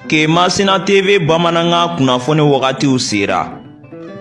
Kemasina TV bamanankan kunnafoni wagatiw sera.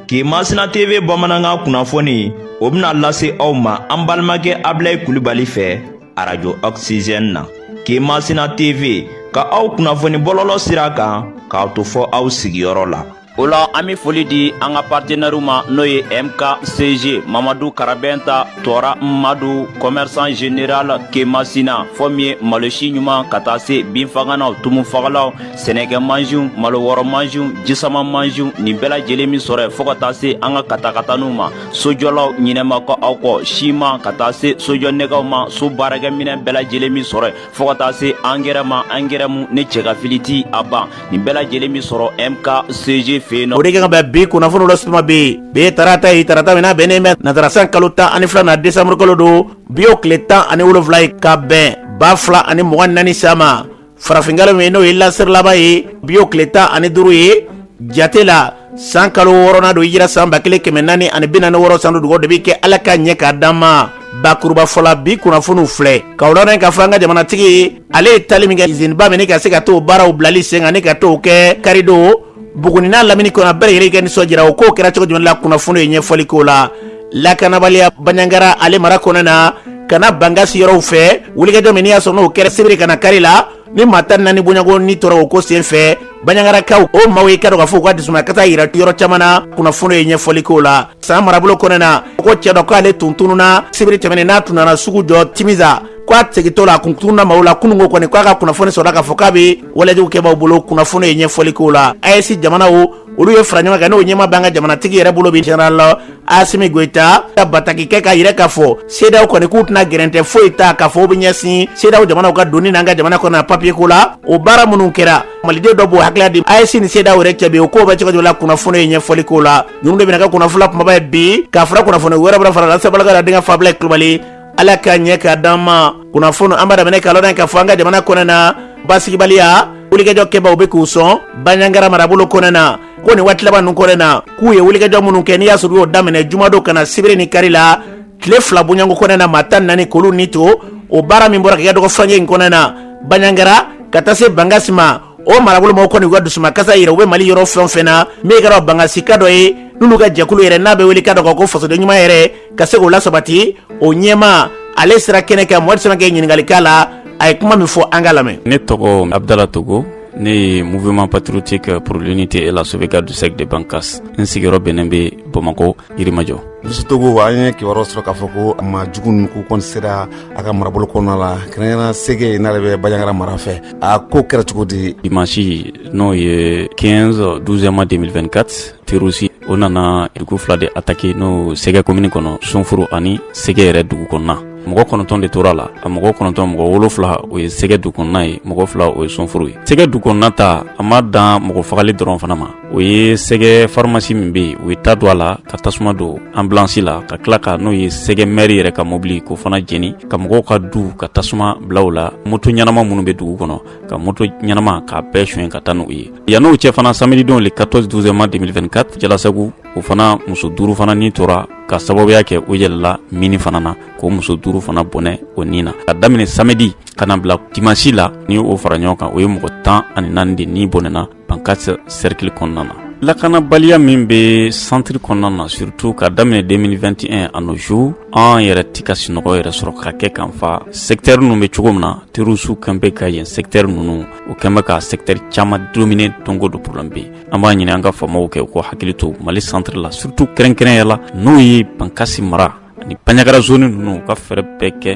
Kemasina TV bamanankan kunnafoni o bɛna lase aw ma an balimakɛ Abilayi Kulibali fɛ arajo Oxygène na. Kemasina TV ka aw kunnafoni bɔlɔlɔ sira kan k'aw to fɔ aw sigiyɔrɔ la. o la an be foli di an ka partenɛriw ma n'o ye mkcg mamadu karabɛnta tɔɔra madu kɔmɛrisan general kemasina fɔ min ye malosi ɲuman ka taa se binfaganaw tumufagalaw sɛnɛkɛ mansinw malowɔrɔ mansinw jisama mansinw nin bɛɛ lajɛlen bi sɔrɔ yen fɔɔ ka taa se an ka katakataniw ma sojɔlaw ɲinɛ ma kɛ aw kɔ siman ka taa se sojɔ nɛgɛw ma so baarakɛminɛn bɛɛ lajɛlen bi sɔrɔ yen fɔɔ ka taa se angɛrɛ ma angɛrɛ mu ni cɛgafili ti a ban nin bɛɛ lajɛlen bi sɔrɔ mkcg fɛ yen nɔ o de kɛ ka bɛn bi kunnafoniw la suma be yen bi ye tarata ye tarata min n'a bɛnnen bɛ nasara san kalo tan ani filanan desanburu kalo don bi o tile tan ani wolonfila ye ka bɛn ba fila ani mugan ni naani san ma farafinkalo min n'o ye lasiri laban ye bi o tile tan ani duru ye jate la san kalo wɔɔrɔnan don hijira san ba kelen kɛmɛ naani ani bi naani wɔɔrɔ san don dugaw de bɛ kɛ ala ka ɲɛ k'a d'an ma bakurubafɔ la bi kunnafoniw filɛ k'aw ladɔnniya k'a fɔ an ka jamanatigi ale ye taali min kɛ iziniba min ka se ka t'o baaraw bilali sen kan ni ka t'o kɛ karidon buguni n'a lamini kɔnɔ a bɛɛ lajɛlen ka nisɔndiyara o ko kɛra cogo jumɛn la kunnafoni ye ɲɛfɔli k'o la lakanabaliya banyangara ale mara kɔnɔ na ka na bangasi yɔrɔw fɛ wulikajɔ min n'i y'a sɔrɔ n'o kɛra sibiri ka na kari la ni maa tan naani bɔɲɔgɔnko ni tora o ko sen fɛ baɲagarakaw o maaw ye k'a dɔn k'a fɔ u ka dusumakasi yira yɔrɔ caman na kunnafoni ye ɲɛfɔli k'o la san marabolo kɔnɛ na ko cɛ dɔ k'ale tun tununa sibiri tɛmɛnen n'a tun nana sugu jɔ timisa ko a segintɔ la a kun tununa maaw la kunungo kɔni k'a ka kunnafoni sɔrɔla k'a fɔ k'a bɛ walejugu kɛbaaw bolo kunnafoni ye ɲɛfɔli k'o la aes jamanaw olu ye fara ɲɔgɔn kan n'o ɲɛmaa b'an ka jamanatigi yɛrɛ bolo bi general asimi goyita ka bataki kɛ k'a yira k'a fɔ seedaw kɔni k'u tɛna gɛrɛntɛ foyi ta k'a fɔ u bɛ ɲɛsin seedaw jamanaw ka donni n'an ka jamana kɔnɔ papiye ko la o baara minnu kɛra maliden dɔ b'o hakilila di aes ni seedaw yɛrɛ cɛ bi o ko bɛ cogo la kunnafoni ye ɲɛfɔli k'o la ninnu de bɛna kɛ kunnafoni kumaba ye bi k'a fara kunnafoni wɛrɛ bɛna fara la sabalaka la denkɛ abilayi kulubali ala ka ɲɛ k'a d'an ma kunnafoni an b'a daminɛ k'a lɔn k'a fɔ an ka jamana kɔnɛ na basigibaliya wulikajɔ kɛbaaw be k'u sɔn banyangara marabolo kɔnɛ na ko nin waati laban ninnu kɔnɛ na k'u ye wulikajɔ minnu kɛ n'i y'a sɔrɔ u y'o daminɛ jumadon ka na sibiri ni kari la tile fila bɔɲɔgɔnko kɔnɛ na maa tan naani k'olu ni to o baara min bɔra ka kɛ dɔgɔ furancɛ in kɔnɛ na banyangara ka taa se bangasi ma o marabolo mɔgɔw kɔni u ka dusumakasi yira u bɛ mali yɔrɔ fɛn o fɛn na min kɛra bangasika dɔ ye n'olu ka jɛkulu yɛrɛ n'a bɛ wele ka dɔ kan ko fasoden ɲuman yɛrɛ ka se k'o lasabati o ɲɛma ale sera kɛnɛ kan mohamed samakɛ ɲininkali k'a la a ye kuma min fɔ an k'a lamɛn ne tɔgɔ abdala togo ne ye mouvement patriotique pour l'unité et la sauvegarde du cercle de bankas n sigiyɔrɔ bɛnnen bɛ bamako yirimajɔ monsieur togo an ye kibaruyaw sɔrɔ k'a fɔ ko maa jugu ninnu k'u kɔni sera a ka marabolo kɔnɔna la kɛrɛnkɛrɛn sɛgɛ n'ale bɛ banjagara mara fɛ a ko kɛra cogo di dimansi n'o ye 15 12 mois 2024 terorisi o nana dugu fila de ataki n'o sɛgɛ komini kɔnɔ sunforo ani sɛgɛ yɛrɛ dugu kɔnɔna mɔgɔ kɔnɔntɔn de tora a la a mɔgɔ kɔnɔntɔn mɔgɔ wolonfila o ye sɛgɛ dugu kɔnɔna ye mɔgɔ fila o ye sunforo ye sɛgɛ dugu kɔnɔna ta a ma dan mɔgɔ fagali dɔrɔn fana ma o ye sɛgɛ farimasi min be yen u ye ta don a la ka tasuma don anbilansi la ka tila ka n'o ye sɛgɛ mɛri yɛrɛ ka mɔbili k'o fana jeni ka mɔgɔw ka du ka tasuma bila u la moto ɲɛnama minnu be dugu kɔnɔ ka moto ɲɛnama k'a bɛɛ soɲɛ ka taa n'u ye yann'o cɛ fana samedi don le 14 12 mois 2024 jalasagu o fana muso duuru fana ni tora ka sababuya kɛ o yɛlɛla mini fana na k'o muso duuru fana bɔnɛ o ni na ka daminɛ samedi ka na bila dimansi la ni o fara ɲɔgɔn kan o ye mɔgɔ tan ani naani de ni bɔnɛna bankasi serikili kɔnɔna na lakanabaliya min bɛ santiri kɔnɔna na surtout ka daminɛ 2021 à nos jours an yɛrɛ ti ka sinɔgɔ yɛrɛ sɔrɔ ka kɛ kan fa sɛgitɛri ninnu bɛ cogo min na terorisiw kɔni bɛ ka yen sɛgitɛri ninnu o kɔni bɛ ka sɛgitɛri caman domine donko don problɛm bɛ yen an b'a ɲini an ka faamaw kɛ u k'u hakili to mali santiri la surtout kɛrɛnkɛrɛnya la n'o ye bankasi mara ni banjagara zoni ninnu u ka fɛɛrɛ bɛɛ kɛ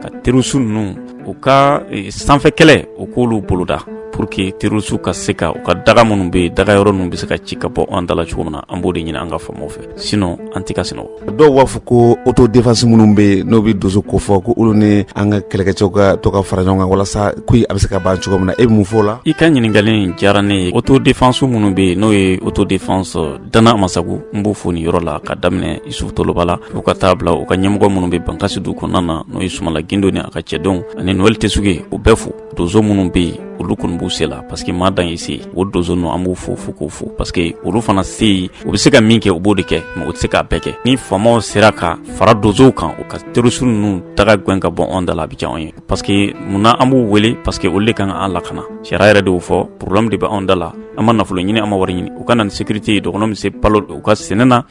ka terorisi ninnu u ka e, sanfɛ kɛlɛ u k'olu boloda pour que terorisiw ka se ka u ka daga minnu bɛ yen daga yɔrɔ ninnu bɛ se ka ci ka bɔ an da la cogo min na an b'o de ɲini an ka faamaw fɛ sinon an tɛ ka sinɔgɔ dɔw b'a fɔ ko auto defense minnu bɛ yen n'u bɛ donso ko fɔ ko olu ni an ka kɛlɛkɛcɛw ka to ka fara ɲɔgɔn kan walasa ko a bɛ se ka ban cogo min na e bɛ mun fɔ o la i ka ɲininkali in diyara ne ye auto defense minnu bɛ yen n'o ye auto defense Dan na amasagu n b'u fo nin yɔrɔ la ka daminɛ isufu toloba la fo ka taa bila u ka ɲɛmɔgɔ minnu bɛ bankasi dugu kɔnɔna na n'o ye sumala gindo ni a ka cɛdenw ani noël tesuge u bɛɛ fo donso minnu bɛ yen olu kɔni b'u se la parce que maa dan ye se o donso ninnu an b'u fo fo k'u fo parce que olu fana se ye u bɛ se ka min kɛ u b'o de kɛ mais u tɛ se k'a bɛɛ kɛ ni faamaw sera ka fara donsow kan u ka terorisi ninnu daga gɛn ka bɔ anw da la a bɛ diya anw ye parce que munna an b'u wele parce que olu de kan ka an lakana sariya yɛrɛ de y'o fɔ problɛm de bɛ anw da la an ma nafolo ɲini an ma wari ɲini u ka na ni sécurité ye dɔgɔnɔ bɛ se balo u ka sɛnɛ na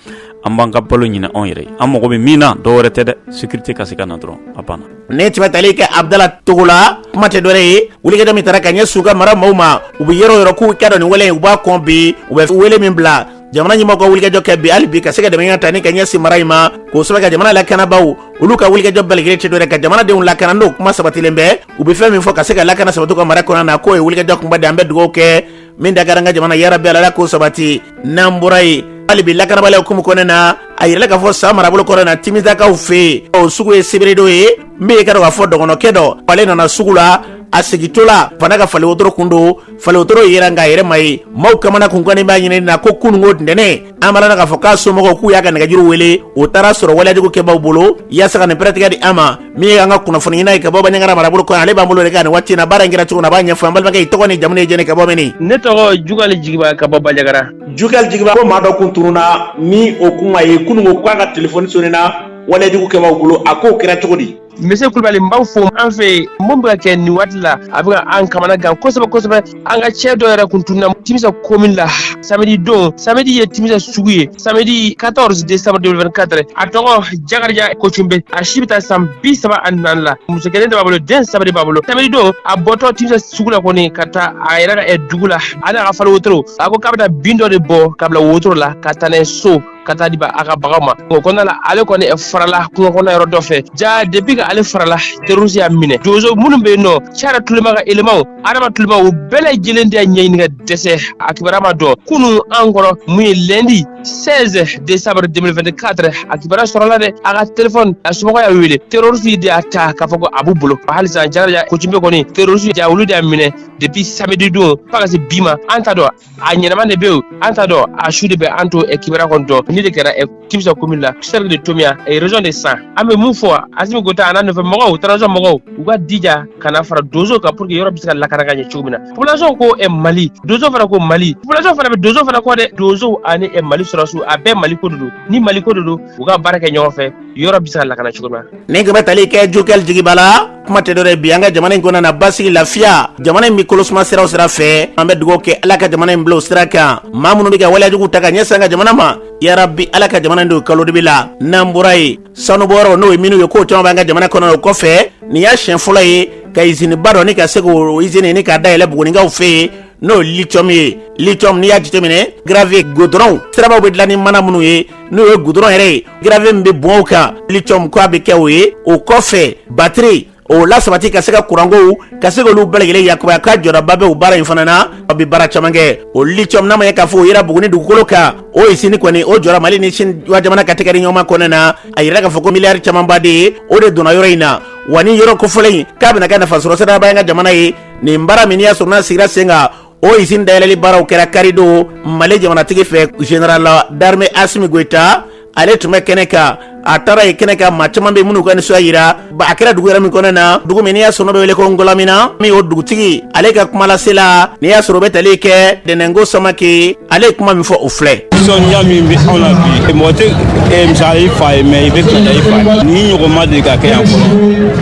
an b'an ka balo ɲini anw yɛrɛ an mago bɛ min na dɔ wɛrɛ tɛ dɛ sécurité ka se ka na dɔrɔn a banna nin tun bɛ tali kɛ abdala togo la kuma tɛ dɔwɛrɛ ye wulikajɔ min tara ka ɲɛsin u ka mara maaw ma u bɛ yɔrɔ yɔrɔ k'u k'a dɔn nin wale u b'a kɔn bi u bɛ wele min bila jamana ɲɛmɔgɔw ka wulikajɔ kɛ bi hali bi ka se ka dɛmɛ ta ni ka ɲɛsin mara in ma kosɛbɛ an ka jamana lakanabaaw olu ka wulikajɔ bɛɛ lajɛlen tɛ dɔwɛrɛ ka jamanadenw lakana n'o kuma sabatilen bɛ u bɛ fɛn min fɔ ka se ka lakana sabati ka mara kɔnɔ na k'o ye wulikajɔ kunba de an bɛ dugawu kɛ min da ka an ka jamana yarabi ala k'o sabati n'an bɔra yen hali bi lakanabaliya hukumu kɔnɔna na a yira k'a fɔ san marabolo kɔnɔ na timisakaw fɛ yen o sugu ye sibiridon ye min ye ka dɔn k'a fɔ dɔgɔnɔkɛ dɔ ale nana sugu la a segintɔ la fana ka fali wotoro kun don faliwotoro yera nk'a yɛrɛ ma ye maaw kamana kun gannen b'a ɲinini na ko kununko ntɛnɛn an balana k'a fɔ k'a somɔgɔw k'u y'a ka nɛgɛjuru wele o taara sɔrɔ waleyajugu kɛbaaw bolo yaasa ka nin pɛrɛtigɛ di an ma min ye an ka kunnafoni ɲinina ye ka bɔ baɲagara marabolo kɔnɔ ale b'an bolo de kan nin waati na baara in kɛra cogo min na a b'a ɲɛfɔ an balimakɛ i tɔgɔ ni jamu ye jɔni ka bɔ mini ne tɔgɔ jugali jigiba ka bɔ bajagara jugali jigiba ko maa dɔ kun tununa ni o kuma ye kununko k'a ka telefɔni sonina waleyajugu kɛbaaw bolo a k'o kɛra cogo di monsieur kulubali n b'aw fo an fɛ yen mun bɛ ka kɛ nin waati la a bɛ ka an kamana gan kosɛbɛ kosɛbɛ an ka cɛ dɔ yɛrɛ kun tununa timisa komin la samedi don samedi ye timisa sugu ye samedi 14 décembre 2024 a tɔgɔ jakarija kocunbe a si bɛ taa san bi saba ani naani la muso kelen de b'a bolo den saba de b'a bolo samedi don a bɔtɔ timisa sugu la kɔni ka taa a yɛrɛ ka ɛ dugu la a n'a ka fali wotoro a ko k'a bɛ taa bin dɔ de bɔ ka bila wotoro la ka taa n'a ye so ka taa di a ka baganw ma o kɔnɔna la ale kɔni farala kungo kɔnɔ yɔrɔ dɔ fɛ ja depuis que ale farala terroriste y'a minɛ donso minnu bɛ yen nɔ cara tulema ka elemaw adama tulema u bɛɛ lajɛlen de y'a ɲɛɲini ka dɛsɛ a kibaruya ma dɔn kunun an kɔrɔ mun ye lundi 16 décembre 2024 a kibaruya sɔrɔla dɛ a ka telefɔni a somɔgɔw y'a wele terroriste de y'a ta k'a fɔ ko a b'u bolo halisa jakarija kocunbe kɔni terroriste ja olu de y'a minɛ depuis samedi don fo ka se bi ma an t'a dɔn a ɲɛnama de be yen an t'a dɔn a su de bɛ an t'o ɛ kibara kɔni dɔn nin de kɛra ɛ timisa komin la cercle de tominian ɛ région de san an be mun fɔ asimi goyita a n'a nɔfɛ mɔgɔw transition mɔgɔw u ka jija ka na fara donso kan pour que yɔrɔ be se ka lakana ka ɲɛ cogo min na population ko ɛ mali donso fana ko mali population fana be donso fana kɔ dɛ donsow ani ɛ mali sɔrɔdasiw a bɛɛ mali ko de don ni mali ko de don u ka baara kɛ ɲɔgɔn fɛ yɔrɔ be se ka lakana cogo min na nin ko bɛ tali kɛ jugali jigiba la kuma tɛ dɔwɛrɛ bi an ka jamana in kɔnɔna na basigi lafiya jamana in bɛ kolosuma sira o sira fɛ an bɛ dugawu kɛ ala ka jamana in bila o sira kan maa minnu bɛ ka waleyajugu ta ka ɲɛsin an ka jamana ma yarabi ala ka jamana in don kalo dibi la n'an bɔra yen sanubɔyɔrɔ n'o ye minew ye k'o caman b'an ka jamana kɔnɔ o kɔfɛ nin y'a siɲɛ fɔlɔ ye ka iziniba dɔ ni ka se k'o izini ni k'a dayɛlɛ buguninkaw fɛ yen n'o lithium ye lithium n'i y'a jateminɛ gravier goudron sirabaw bɛ dilan ni mana minnu ye n'o ye goudron yɛrɛ ye gravier min bɛ bɔn o kan lithium ko a bɛ kɛ o ye o kɔfɛ batiri o lasabati ka se ka kurankow ka se k'olu bɛɛ lajɛlen yakubaya ka jɔdaba bɛ o baara in fana na a bɛ baara caman kɛ o lithium n'a ma ye k'a fɔ o yera buguni dugukolo kan o izini kɔni o jɔra mali ni sini jamana ka tɛgɛ di ɲɔgɔn ma kɔnɔna na a yira k'a fɔ ko miliyari camanba de ye o de donna yɔrɔ in na wa ni yɔrɔ kofɔlen in k'a bɛna kɛ nafasɔrɔ siraba ye an ka jamana ye nin baara min n'i y'a sɔrɔ n'a sigira sen kan o izini dayɛlɛli baaraw kɛra karidon mali jamanatigi fɛ général d'armée asimi goyita ale tun bɛ kɛnɛ kan a taara ye kɛnɛ kan maa caman bɛ minnu ka nisɔndiya yira a kɛra dugu yɛrɛ min kɔnɔ na dugu min n'i y'a sɔrɔ bɛ wele ko ngulamina min o dugutigi ale ka kumalasela n'i y'a sɔrɔ bɛ tali kɛ dɛnɛnko samake ale ye kuma min fɔ o filɛ nisɔndiya min bɛ anw na bi mɔgɔ tɛ eh, misali i fa ye mɛ i bɛ fɛta i fa ye nin ɲɔgɔn ma deli ka kɛ yan fɔlɔ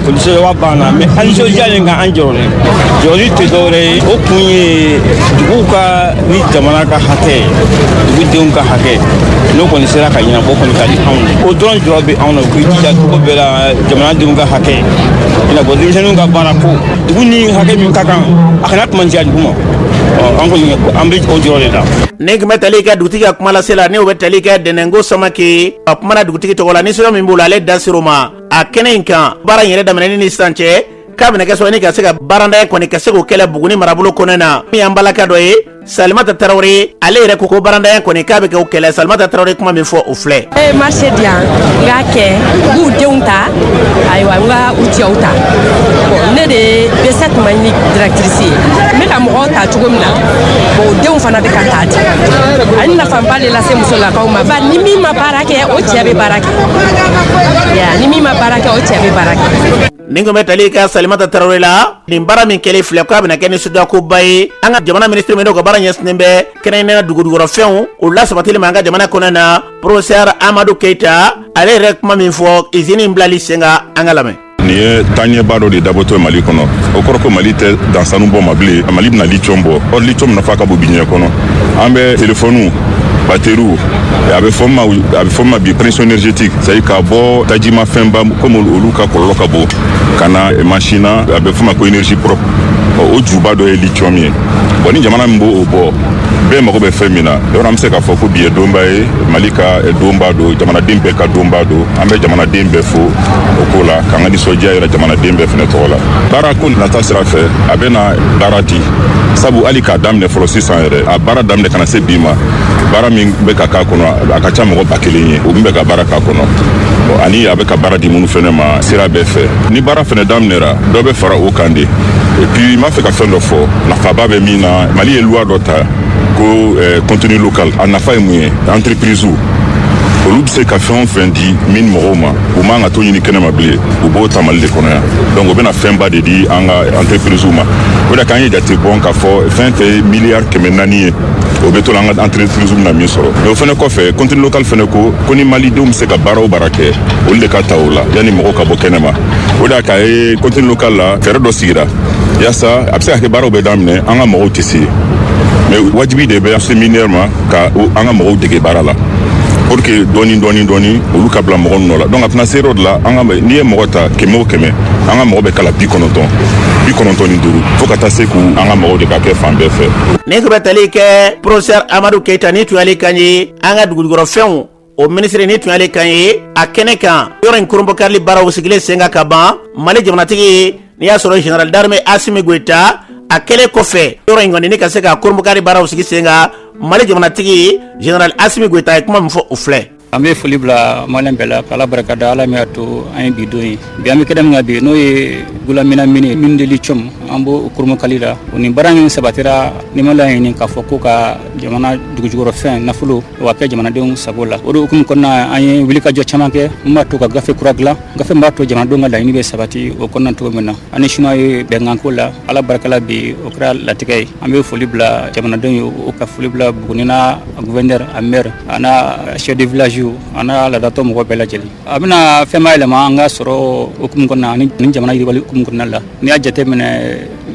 foli sɛbɛba b'an na mɛ an nisɔndiyalen nka an jɔrɔlen jɔrɔ tɛ dɔwɛrɛ ye o kun ye duguw ka ni jamana ka hakɛ ye dugudenw ka hakɛ n'o kɔni sera ka ɲɛnabɔ kɔni ka di anw ye o dɔrɔn jɔrɔ bɛ anw na u k'i jija cogo bɛɛ la jamanadenw ka hakɛ i n'a fɔ denmisɛnninw ka baara ko dugu ni hakɛ min ka kan a kana tuma jɛ dugu ma an kɔni an bɛ o jɔrɔ de la nin tun bɛ tali kɛ dugutigi ka kumalasela n'o bɛ tali kɛ dɛnɛnko samake a kumana dugutigi tɔgɔ la nisɔndiya min b'o la ale da ser'o ma a kɛnɛ in kan baara in yɛrɛ daminɛni ni sisan cɛ k'a bɛna kɛ sɔrɔ ni ka se ka baarantanya kɔni ka se k'o kɛlɛ buguni marabolo kɔnɔ na min y'an balaka dɔ ye salimata tarawele ale yɛrɛ ko ko baarantanya kɔni k'a bɛ kɛ o kɛlɛ salimata tarawele kuma min fɔ o filɛ e ye marché di yan n k'a kɛ n b'u denw ta ayiwa n ka u cɛw ta bon ne de bɛ se tuma ni directrice ye n bɛ ka mɔgɔw ta cogo min na bon o denw fana bɛ ka ta dɛ a ye nafaba de lase musolakaw ma ba ni min ma baara kɛ o cɛ bɛ baara kɛ ni min ma baara kɛ o cɛ bɛ baara kɛ nin tun bɛ tali kɛ salimata tarawele la nin baara min kɛlen filɛ k'a bɛna kɛ nisɔndiyakoba ye an ka jamana minisiri min n'o ka baara ɲɛsinnen bɛ kɛrɛnkɛrɛnnenya dugujukɔrɔfɛnw o lasabatili ma an ka jamana kɔnɔ na professeur amadu keyita ale yɛrɛ kuma min fɔ izini in bilali sen kan an ka lamɛn nin ye taaɲɛba dɔ de dabɔtɔ ye mali kɔnɔ o kɔrɔ ko mali tɛ dan sanu bɔ ma bilen mali bɛna litiyɔn bɔ ɔ litiyɔn nafa ka bon bi diɲɛ kɔnɔ an bɛ telefɔniw bateriw a bɛ fɔ ma bi transition énergétique c'est-à-dire ka bɔ tajimafɛnba komi olu ka kɔlɔlɔ ka bon ka na mansin na a bɛ f'o ma ko énergie propre ɔ, o juba dɔ ye lithium ye bɔn ni jamana min b'o bɔ bɛɛ mago bɛ fɛn min na yɔrɔ an bɛ se k'a fɔ ko bi ye donba ye mali ka eh, donba don jamanaden bɛɛ ka donba don an bɛ jamanaden bɛɛ fo o ko la k'an ka nisɔndiya yira jamanaden bɛɛ fana tɔgɔ la baara ko nata sira fɛ a bɛna baara di sabu hali k'a daminɛ fɔlɔ sisan yɛrɛ a baara daminɛ ka na se bi ma baara min bɛ ka k'a kɔnɔ a ka ca mɔgɔ ba kelen ye u bɛ ka baara k'a kɔnɔ Bon, ani a bɛ ka baara di minnu fɛnɛ ma sira bɛɛ fɛ ni baara fɛnɛ daminɛra dɔ bɛ fara o kan dɛ et puis n b'a fɛ ka fɛn dɔ fɔ nafaba bɛ min na mali ye loi dɔ ta ko eh, contenu local a nafa ye mun ye entreprise olu bɛ se ka fɛn o fɛn di mine mɔgɔw ma u man ka t'o ɲini kɛnɛma bilen u b'o ta mali de kɔnɔ yan donc o bɛna fɛnba de di an ka entreprise ma o de la k'an ye jate bɔ k'a fɔ fɛn fɛn ye miliyari kɛmɛ naani ye o bɛ to la an ka entreprise bɛna min sɔrɔ mais o fana kɔfɛ contenu local fana ko ko ni malidenw bɛ se ka baara o baara kɛ olu de ka ta o la yanni mɔgɔw ka bɔ kɛnɛma o de y'a k'a ye contenu local la fɛɛrɛ dɔ sigira yaasa a bɛ se ka kɛ baaraw bɛ daminɛ an ka mɔgɔw tɛ se mais wajibi de bɛ seminaire ma ka an ka mɔgɔw dege baara la pour que dɔɔni dɔɔni dɔɔni olu ka bila mɔgɔ nɔ la donc a tɛna se yɔrɔ de la an ka n'i ye mɔgɔ ta kɛmɛ o kɛmɛ an ka mɔgɔ bɛ k'a la bi kɔnɔntɔn bi kɔnɔntɔn ni duuru fo ka taa se ko an ka mɔgɔw de ka kɛ fan bɛɛ fɛ nin ko bɛ tali kɛ professeur amadu keyita nin tun y'ale kan ye an ka dugujukɔrɔfɛnw o minisiri nin tun y'ale kan ye a kɛnɛ kan yɔrɔ in kurunbɔkarili baaraw sigilen sen kan ka ban mali jamanatigi n'i y'a sɔrɔ general d'armée asimi goyita a kɛlen kɔfɛ yɔrɔ in kɔni ni ka se ka kurunbɔkarili baaraw sigi sen kan mali jamanatigi general asimi goyita ye kuma min fɔ o filɛ an bɛ foli bila maliyɛn bɛɛ la k'ala barika da ala min y'a to an ye bi don ye bi an bɛ kɛnɛ min kan bi n'o ye gulamina mine mine de lithium an b'o kurunbɔkari la o ni baara min sabatira ni ma laɲini k'a fɔ ko ka jamana dugujukɔrɔfɛn nafolo o ka kɛ jamanadenw sago la o de hukumu kɔnɔna an ye wulikajɔ caman kɛ min b'a to ka gafe kura dilan gafe min b'a to jamanadenw ka laɲini bɛ sabati o kɔnɔna cogo min na ani chinois ye bɛnkanko la ala barika la bi o kɛra latigɛ ye an bɛ foli bila jamanadenw ye o ka foli bila buguni n'a Gouverneur a maire an chef de village an ladatɔ mɔgɔ bɛɛ lajɛlen a bɛna fɛn yɛlɛma an ka sɔrɔ hukumu kɔnɔ ni jamana yiriwali hukumu kɔnɔna la n'i y'a jateminɛ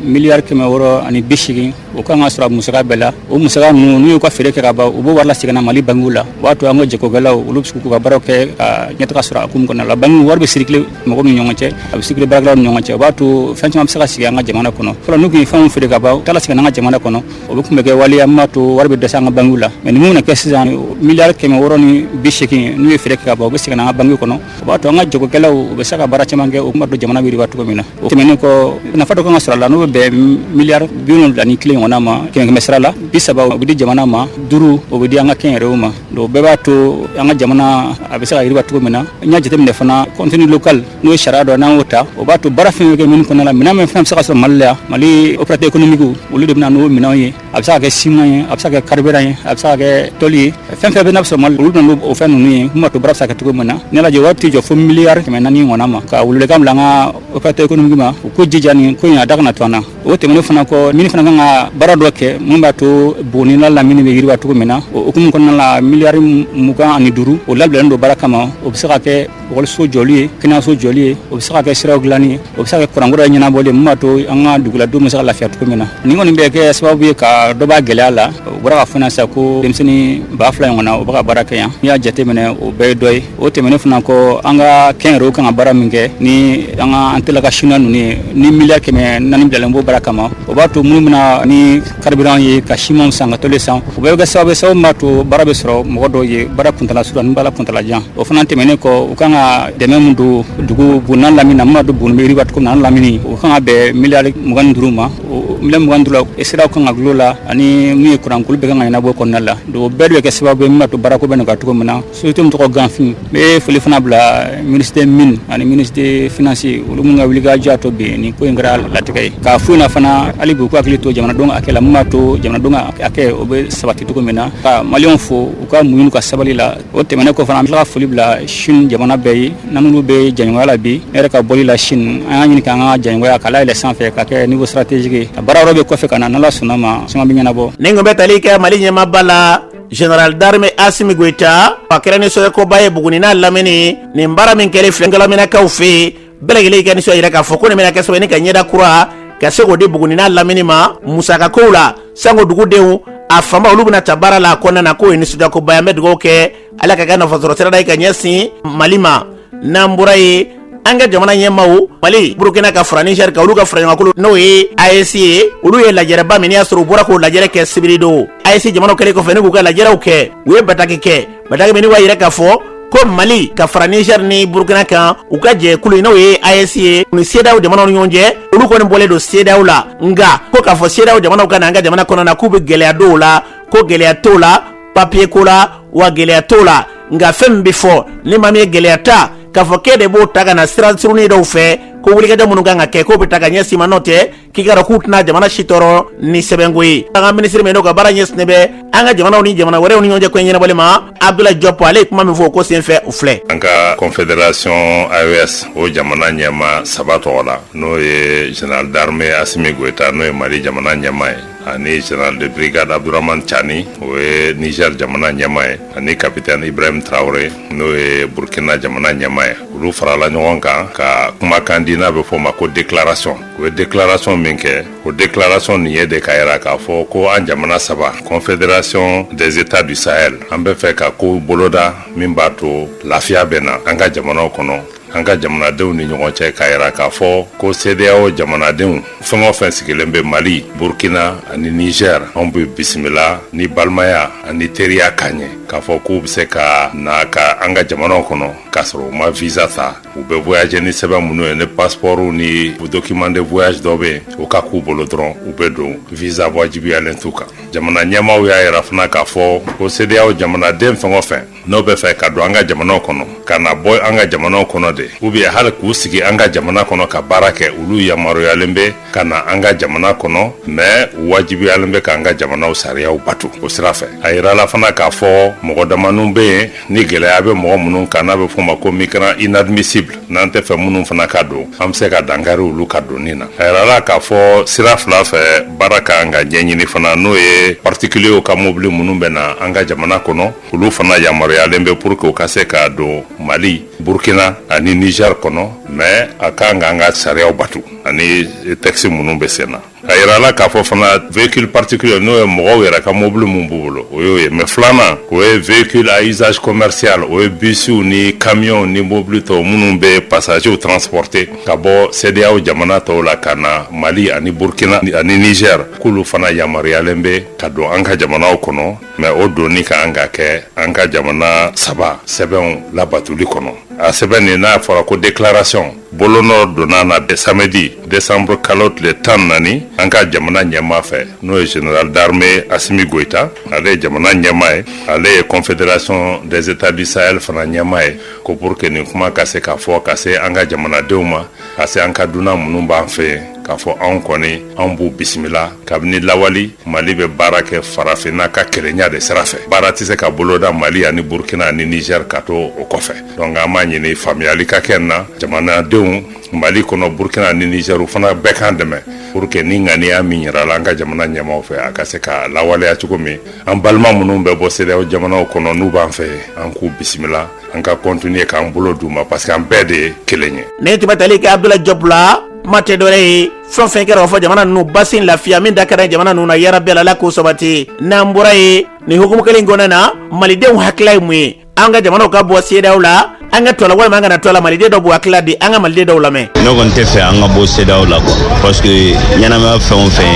miliyari kɛmɛ wɔɔrɔ ani bi segin o ka kan ka sɔrɔ musaka bɛɛ la o musaka ninnu n'u y'u ka feere kɛ ka ban u b'o wari lasegin mali bankiw la o b'a to an ka jagokɛlaw olu bɛ se k'u ka baara kɛ ka ɲɛtaga sɔrɔ a hukumu kɔnɔ la banki wari bɛ circuler mɔgɔ ni ɲɔgɔn cɛ a bɛ circuler baara ni ɲɔgɔn cɛ o b'a to fɛn caman bɛ se ka sigi an ka jamana kɔnɔ fɔlɔ n'u ye fɛn feere ka ban u tɛ segin an ka jamana kɔnɔ o de tun bɛ kɛ waleya min b'a to wari bɛ dɛsɛ an ka banki la mais mun bɛna kɛ sisan miliyari kɛmɛ wɔɔrɔ ni bi segin n'u ye feere ka ban u bɛ segin an ka banki kɔnɔ o b'a to an ka jagokɛlaw u bɛ se ka baara caman kɛ min b'a to jamana bɛ yiriwa cogo min na o tɛmɛnen kɔ nafa dɔ kan ka sɔrɔ a la n'o bɛ bɛn miliyari bi wolonwula ni kelen ɲɔgɔn ma kɛmɛkɛmɛ sira la bi saba o bɛ di jamana ma duuru o bɛ di an ka kɛnyɛrɛyew ma donc bɛɛ b'a to an ka jamana a bɛ se ka yiriwa cogo min na n'i y'a jateminɛ fana contenu local n'o ye sariya dɔ n'an y'o ta o b'a to baara fɛn o fɛn bɛ kɛ mine kɔnɔna la minɛn min fɛn bɛ se ka sɔrɔ Mali la yan Mali opérateur économique olu de bɛ na n'o minɛnw ye a bɛ se ka kɛ ciment ye a bɛ se ka kɛ carburant ye a bɛ se ka kɛ tôle ye fɛn fɛn bɛ n'a bɛ sɔrɔ Mali la olu bɛ na n'o fɛn ninnu ye min b'a to baara bɛ se ka kɛ cogo min na n'i y'a lajɛ wari tɛ jɔ fo miliyari kɛmɛ naani ɲɔgɔnna ma ka welewelekan bila an ka opérateur économique ma u k'u jija nin ko in a da kana to an na o tɛmɛnen fana kɔ mine fana kan ka baara dɔ kɛ min b'a to Buguni n'a lamini bɛ yiriwa cogo min na o hukumu kɔnɔna la miliyari mugan ani duuru o labilalen don baara kama o bɛ se ka kɛ Ekɔliso jɔli ye kɛnɛyaso jɔli ye o bɛ se ka kɛ siraw dilanni ye o bɛ se ka kɛ kuranko ɲɛnabɔli ye min b'a to an ka duguladenw bɛ se ka lafiya cogo min na nin kɔni bɛ kɛ sababu ye ka dɔ b'a gɛlɛya la o bɔra k'a fɔ na sa ko denmisɛnnin ba fila ɲɔgɔnna o bɛ ka baara kɛ yan n'i y'a jateminɛ o bɛɛ ye dɔ ye o tɛmɛnen fana kɔ an ka kɛnyɛrɛyew ka kan baara min kɛ ni an ka an tila ka chinois ninnu ye ni miliyari kɛmɛ naani bilalen b'o baara kama o b'a to minnu min na ni karibiran ye ka siman san ka toli san o bɛɛ bɛ kɛ sababu ye min b'a to baara bɛ sɔrɔ mɔgɔ dɔw ye baara kuntaala surun ani baara kuntaala jan o fana tɛmɛnen kɔ u kan ka dɛmɛ min don dugu buguni n'a lamini na min b'a to buguni bɛ yiriwa cogo min na n'a lamini o kan ka bɛn miliyari mugan ni duuru ma o miliyari mugan ni duuru la siraw kan ka dilan o la ani min ye kuranko olu bɛɛ kan ka ɲɛnabɔ kɔnɔna la donc o bɛɛ de bɛ kɛ sababu ye min b'a to baarako bɛ nɔgɔya cogo min na Société min tɔgɔ ganfin n bɛ foli fana bila ministre des mines ani ministre des finances olu minnu ka wulikajɔ y'a to bi nin ko in kɛra latigɛ ye k'a fɔ u ɲɛna fana hali bi u k'u hakili to jamanadenw ka hakɛ la min b'a to jamanadenw ka hakɛ o bɛ sabati cogo min na ka maliyɛnw fo u ka muɲu ka sabali la o tɛmɛnen kɔ fana an bɛ tila ka foli bila sini jamana bɛɛ ye n'an n'olu bɛ jɛɲɔgɔnya la bi ne yɛrɛ ka bɔli la sini an y'a ɲini k'an ka jɛɲɔgɔnya k'a layɛlɛn sanfɛ ka kɛ niveau stratégique ye a baara yɔrɔ bɛ kɔfɛ ka na n'Ala sɔnna a ma suma bɛ ɲɛnabɔ nin ko bɛ tali kɛ mali ɲɛmaaba la General d'armée Assimi Goïta a kɛra nisɔndiyakoba ye Buguni n'a lamini nin baara min kɛlen filɛ Gulaminakaw fɛ yen bɛɛ lajɛlen y'i ka nisɔn jira k'a fɔ ko nin bɛna kɛ sababu ye ni ka ɲɛda kura ka se k'o di Buguni n'a lamini ma musakakow la sango dugudenw a fanba olu bɛna ta baara la a kɔnɔna na k'o ye nisɔndiyakoba ye an bɛ dugawu kɛ Ala k'a kɛ nafasɔrɔsirada ye ka ɲɛsin Mali ma n'an bɔra yen an ka jamana ɲɛmaw mali burukina ka fara nizɛri kan olu ka faraɲɔgɔnkankulu n'o ye aes ye olu ye lajɛrɛba min y'a sɔrɔ u bɔra k'o lajɛrɛ kɛ sibiridon aes jamanaw kɛlen kɔfɛ ni k'u ka lajɛrɛw kɛ u ye bataki kɛ bataki min b'a yira k'a fɔ ko mali ka fara nizɛri ni burukina kan u ka jɛkulu n'o ye aes ye u ni sedeyawo jamanaw ni ɲɔgɔn cɛ olu kɔni bɔlen don sedeyawo la nka ko k'a fɔ sedeyawo jamanaw ka na an ka jamana kɔnɔ na k'u bɛ gɛlɛya don o la ko gɛlɛya t'o la papiye ko la wa gɛlɛya t'o la nka fɛn min bɛ fɔ ni maa min ye gɛlɛya ta k'a fɔ k'e de b'o ta ka na sira surunin dɔw fɛ ko wulikajɔ minnu kan ka kɛ k'o bɛ ta ka ɲɛsin i ma n'o tɛ k'i k'a dɔn k'u tɛna jamana si tɔɔrɔ ni sɛbɛnko ye an ka minisiri min n'o ka baara ɲɛsinnen bɛ an ka jamanaw ni jamana wɛrɛw ni ɲɔgɔn cɛ ko in ɲɛnabɔli ma abdulayi jɔpɔ ale ye kuma min fɔ o ko senfɛ o filɛ an ka confederation aes o jamana ɲɛma saba tɔgɔ la n'o ye general d'armée asimi goyita n'o ye mali jamana ɲɛma ye ani général de brigade abdourahamane tchiani o ye niger jamana ɲɛma ye ani capitaine ibrahim traore n'o ye burkina jamana ɲɛma ye olu farala ɲɔgɔn kan ka kumakan di n'a bɛ fɔ a ma ko déclaration u ye déclaration min kɛ o déclaration nin ye de k'a yira k'a fɔ ko an jamana saba confédération des états du sahel an b'a fɛ ka kow boloda min b'a to lafiya bɛ na an ka jamanaw kɔnɔ an ka jamanadenw ni ɲɔgɔn cɛ k'a yira k'a fɔ ko sedeyawo jamanadenw fɛn o fɛn sigilen bɛ mali burkina ani nizɛr anw b'u bisimila ni balimaya ani teriya ka ɲɛ k'a fɔ k'u be se ka na ka an ka jamanaw kɔnɔ k'a sɔrɔ u ma visa ta u be voyaje ni sɛbɛn minnu ye ni paspɔrw ni document de voyage dɔ be yen o ka k'u bolo dɔrɔn u be don visa wajibiyalen t'u kan jamana ɲɛmaw y'a yira fana k'a fɔ ko sedeyawo jamanaden fɛn o fɛn n'o bɛ fɛ ka don an ka jamanaw kɔnɔ ka na bɔ an ka jamanaw kɔnɔ de ou bien hali k'u sigi an ka jamana kɔnɔ ka baara kɛ olu yamaruyalen bɛ ka na an ka jamana kɔnɔ mais u wajibiyalen bɛ k'an ka jamanaw sariyaw bato o sira fɛ a yirala fana k'a fɔ mɔgɔ damaniw bɛ yen ni gɛlɛya bɛ mɔgɔ minnu kan n'a bɛ fɔ ma ko migrant inadmissible n'an tɛ fɛ minnu fana ka don an bɛ se ka dankari olu ka donni na a yirala k'a fɔ sira fila fɛ baara ka kan ka ɲɛɲini fana n'o ye particulier ka mobili minnu bɛ na an ka jamana kɔnɔ olu fana yamaruyalen bɛ pour que u ka se ka don mali burkina ani niger kɔnɔ mais a kan ka an ka sariyaw batu ani texte minnu bɛ sen na a yirala k'a fɔ fana véhicule particulier n'o ye mɔgɔw yɛrɛ ka mobili min b'u bolo o y'o ye mais filanan o ye véhicule à usage commercial o ye bisiw ni kamiyɔnw ni mobili tɔw minnu bɛ passagers transporter ka bɔ sedeyaw jamana tɔw la ka na mali ani burkina ani niger k'olu fana yamaruyalen bɛ ka don an ka jamanaw kɔnɔ mais o donni ka kan ka kɛ an ka jamana saba sɛbɛnw labatuli kɔnɔ a sɛbɛn nin n'a fɔra ko déclaration bolonɔ donna na samedi desanburu kalo tile tan ni naani an ka jamana ɲɛmaa fɛ n'o ye général d'armée assimi goïta ale ye jamana ɲɛmaa ye ale ye confédération des états du sahel fana ɲɛmaa ye ko pour que nin kuma ka se ka fɔ ka se an ka jamanadenw ma ka se an ka dunan minnu b'an fɛ yen k'a fɔ anw kɔni anw b'u bisimila kabini lawali mali bɛ baara kɛ farafinna ka kelenya de sira fɛ baara tɛ se ka boloda mali ani burkina ni niger ka to o kɔfɛ donc an b'a ɲini faamuyali ka kɛ na jamanadenw mali kɔnɔ burkina ni niger u fana bɛɛ k'an dɛmɛ pour que nin ŋaniya min yirala an ka jamana ɲɛmaaw fɛ a ka se ka lawaleya cogo min an balima minnu bɛ bɔ sedeyaw jamanaw kɔnɔ n'u b'an fɛ an k'u bisimila an ka continuer k'an bolo d'u ma parce que an bɛɛ de ye kelen ye ne tun bɛ tali kɛ abdoulaye diop la kuma tɛ dɔwɛrɛ ye fɛn fɛn kɛra o fɔ jamana ninnu basi lafiya min da kɛra jamana ninnu na yarabi ala k'o sabati n'an bɔra yen nin hukumu kelen kɔnɔna na malidenw hakilila ye mun ye an ka jamanaw ka bɔ sedeyaw la an ka to a la walima an kana to a la maliden dɔw b'u hakilila di an ka maliden dɔw lamɛn ne kɔni t'a fɛ an ka bɔ sedeyaw la quoi parce que ɲɛnamaya fɛn o fɛn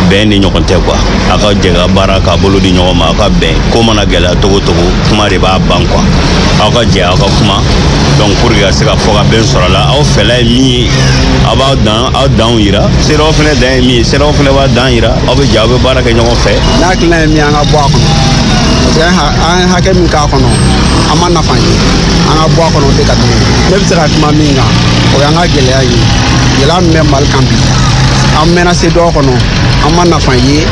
bɛn ni ɲɔgɔn tɛ quoi a ka jɛ ka baara k'a bolo di ɲɔgɔn ma a ka bɛn ko mana gɛlɛya cogo cogo kuma de b'a ban quoi aw ka jɛ aw ka kuma donc pour que ka se ka fɔ ka bɛn sɔrɔ a la aw fɛla ye min ye aw b'aw danw yira sedeyaw fɛnɛ dan ye min ye sedeyaw fɛnɛ b'a dan yira aw bɛ jɛ aw bɛ baara kɛ ɲɔgɔn fɛ ne hakilina ye min ye an ka bɔ a kɔnɔ parce que an ye hakɛ min k'a kɔnɔ an ma nafa ye an ka bɔ a kɔnɔ o de ka di ne bɛ se ka kuma min kan o y'an ka gɛlɛya ye gɛlɛya min bɛ mali kan bi an mɛnna sedeyaw kɔnɔ an ma nafa ye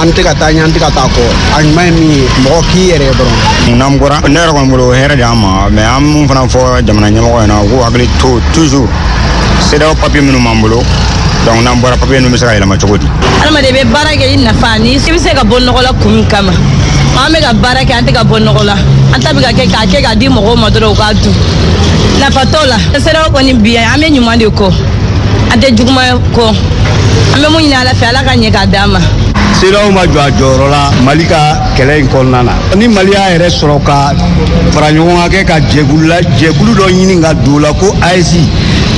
an tɛ ka taa ɲɛ an tɛ ka taa kɔ a ɲuman ye min ye mɔgɔ k'i yɛrɛ ye dɔrɔn n'an bɔra ne yɛrɛ kɔni bolo o hɛrɛ de an ma mais an mun fana fɔ jamana ɲɛmɔgɔw ɲɛna u k'u hakili to toujours sedaw papiye minnu b'an bolo donc n'an bɔra papiye ninnu bɛ se ka yɛlɛma cogo di adamaden bɛ baara kɛ i nafa ni i bɛ se ka bɔ nɔgɔ la kun min kama an bɛ ka baara kɛ an tɛ ka bɔ nɔgɔ la an ta bɛ ka kɛ k'a kɛ k'a di mɔgɔw ma dɔrɔn u k'a dun nafa t'o la sedaw kɔni bi an bɛ ɲuman de kɔ an tɛ juguman kɔ an bɛ mun ɲini ala fɛ ala A ka ɲɛ k'a d'an ma sedaw ma jɔ a jɔyɔrɔ la mali ka kɛlɛ in kɔnɔna na ni mali y'a yɛrɛ sɔrɔ ka fara ɲɔgɔn kan kɛ ka jɛkulu la jɛkulu dɔ ɲini ka don o la ko ayisi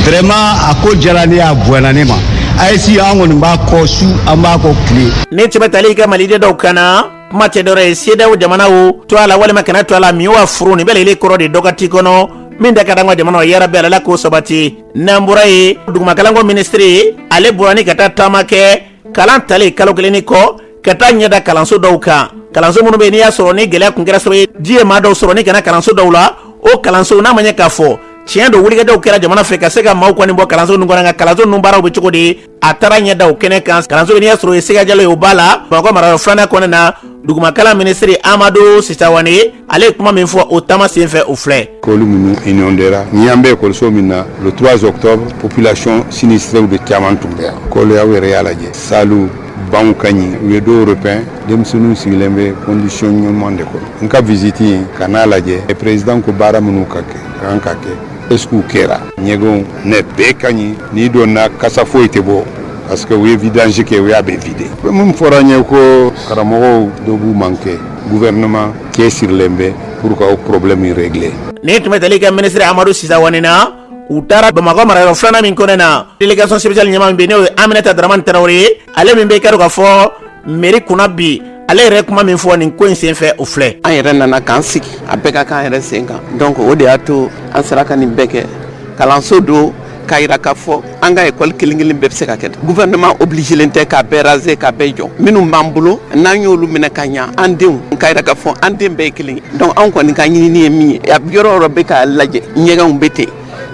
vraiment a ko diyala ne ye a bonyana ne ma ayisi an kɔni b'a kɔ su an b'a kɔ tile nin tun bɛ tali kɛ maliden dɔw kan na kuma tɛ dɔwɛrɛ ye sedaw jamanaw to a la walima kana to a la min wa furu nin bɛɛ lajɛlen kɔrɔ de dɔn waati kɔnɔ min da ka di an ka jamana yɛrɛ bɛɛ la ala k'o sabati n'an bɔra yen dugumakalanko minisiri ale bɔra ni ka taa taama kɛ kalan tali kalo kelen nin kɔ ka taa ɲɛda kalanso dɔw kan kalanso minnu bɛ n'i y'a sɔrɔ ni gɛlɛya tun kɛra sababu ye ji ye maa dɔw sɔrɔ ni ka na kalanso dɔw la o kalansow n'a ma ɲɛ k'a fɔ tiɲɛ don wulikajɔw kɛra jamana fɛ ka se ka maaw kɔni bɔ kalanso ninnu kɔnɔ nka kalanso ninnu baaraw bɛ cogo di a taara ɲɛ da o kɛnɛ kan kalanso bɛ n'i y'a sɔrɔ o ye sega jalo ye o b'a la bamakɔ marayɔrɔ filanan kɔnɔna na dugumakalan minisiri amadu si sawane ale ye kuma min fɔ o taama sen fɛ o filɛ ekɔli minnu inondera ni an bɛ ekɔliso min na le 3 octobre population sinistrew de caman tun bɛ yan kɔni aw yɛrɛ y'a lajɛ salu banw ka ɲi u ye dɔw repeint denmisɛnninw sigilen bɛ condition ɲuman de kɔnɔ n ka visite in ka n'a lajɛ président ko baara minnu ka kɛ ka kan ka kɛ est-ce qu'u kɛra ɲɛgɛnw nin bɛɛ ka ɲi n'i donna kasa foyi tɛ bɔ parce que u ye vidange kɛ u y'a bɛɛ vidé min fɔra n ye ko karamɔgɔw dɔ b'u manqué gouvernement cɛsirilen bɛ pour ka o problème régler nin tun bɛ tali kɛ minisiri amadu si sawane na u taara bamakɔ marayɔrɔ filanan min kɔnɔna délégation spéciale ɲɛmaa min bɛ yen n'o ye aminata daramani tarawele ye ale min bɛ k'a dɔn k'a fɔ meri kunna bi ale yɛrɛ kuma min fɔ nin ko in sen fɛ o filɛ an yɛrɛ nana k'an sigi a bɛɛ ka k'an yɛrɛ sen kan donc o de y'a to an sera ka nin bɛɛ kɛ kalanso don k'a yira k'a fɔ an ka ekɔli kelen kelen bɛɛ bɛ se ka kɛ gouvernement obligelen tɛ k'a bɛɛ raser k'a bɛɛ jɔ minnu b'an bolo n'an y'olu minɛ ka ɲa an denw k'a yira k'a fɔ an den bɛɛ ye kelen ye donc anw kɔni ka ɲinini ye min ye yɔrɔ o yɔrɔ bɛɛ k'a lajɛ ɲɛgɛnw bɛ ten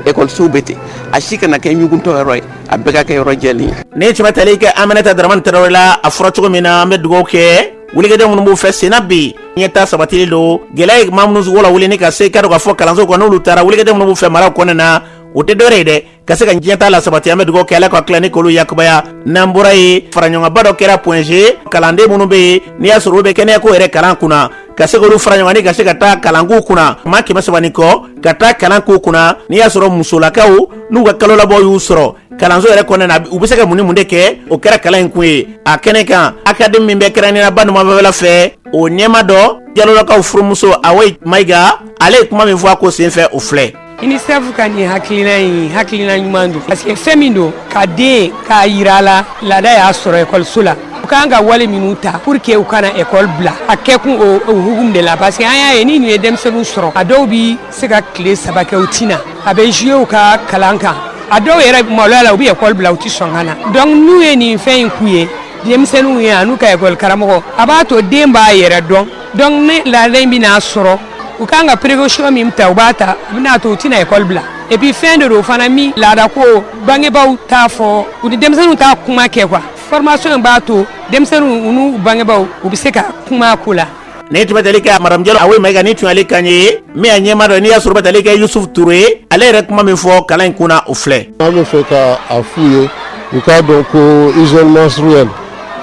ekɔlisow bɛ ten a si kana kɛ ɲuguntɔ yɔrɔ ye a bɛɛ ka kɛ yɔrɔ jɛlen ye nin tun bɛ tali kɛ aminata daramani tarawele la a fɔra cogo min na an bɛ dugawu kɛ wulikajɔ minnu b'u fɛ senna bi ɲɛtaa sabatili don gɛlɛya ye maa minnu lawuli ni ka se k'a dɔn k'a fɔ kalanso kɔnɔ n'olu taara wulikajɔ minnu b'u fɛ maraw kɔnɔna na o tɛ dɔwɛrɛ ye dɛ ka se ka ɲɛtaa lasabati an bɛ dugawu kɛ ala ka tila ni k'olu yakubaya n'an bɔra yen faraɲɔgɔnba dɔ kɛra point G kalanden minnu bɛ yen n'i y'a sɔrɔ u bɛ kɛnɛyako yɛrɛ kalan kunna ka se k'olu fara ɲɔgɔn ka se ka taa kalanko kunna maa kɛmɛ saba ni kɔ ka taa kalanko kunna n'i y'a sɔrɔ musolakaw n'u ka kalolabɔ y'u sɔrɔ kalanso yɛrɛ kɔnɔna na u bɛ se ka mun ni mun de kɛ o kɛra kalan in kun ye a kɛnɛ kan akademi min bɛ kɛrɛnkɛrɛnnenya ba numanfɛla fɛ o ɲɛmaa dɔ jalolakaw furumuso awoyi mayiga ale ye kuma min fɔ a ko senfɛ o filɛ unicef ka nin hakilina in hakilina ɲuman don parce que fɛn min don ka den k'a yira a la laada y'a sɔrɔ ekɔliso la u kan ka wale minnu ta pour que u kana ekɔli bila a kɛkun o hukumu de la parce que an y'a ye ni nin ye denmisɛnninw sɔrɔ a dɔw bi se ka tile saba kɛ u ti na a bɛ jouer u ka kalan kan a dɔw yɛrɛ maloya la u bɛ ekɔli bila u tɛ sɔn ka na donc n'u ye nin fɛn in k'u ye denmisɛnninw ye an'u ka ekɔli karamɔgɔ a b'a to den b'a yɛrɛ dɔn donc ni laada in bɛna sɔrɔ u kan ka précaution min ta u b'a ta a bɛna to u tɛna école bila et puis fɛn de don fana min laadako bangebaaw t'a fɔ u ni denmisɛnninw t'a kuma kɛ quoi formation in b'a to denmisɛnninw u n'u bangebaaw u bɛ se ka kuma ko la ni tun bɛ tali kɛ madame jalo awoyi mayiga ni tun y'ale kan ye min a ɲɛmaa dɔ n'i y'a sɔrɔ bɛ tali kɛ yusufu ture ale yɛrɛ kuma min fɔ kalan in kunna o filɛ an bɛ fɛ ka a f'u ye u k'a dɔn ko hygiène menstruelle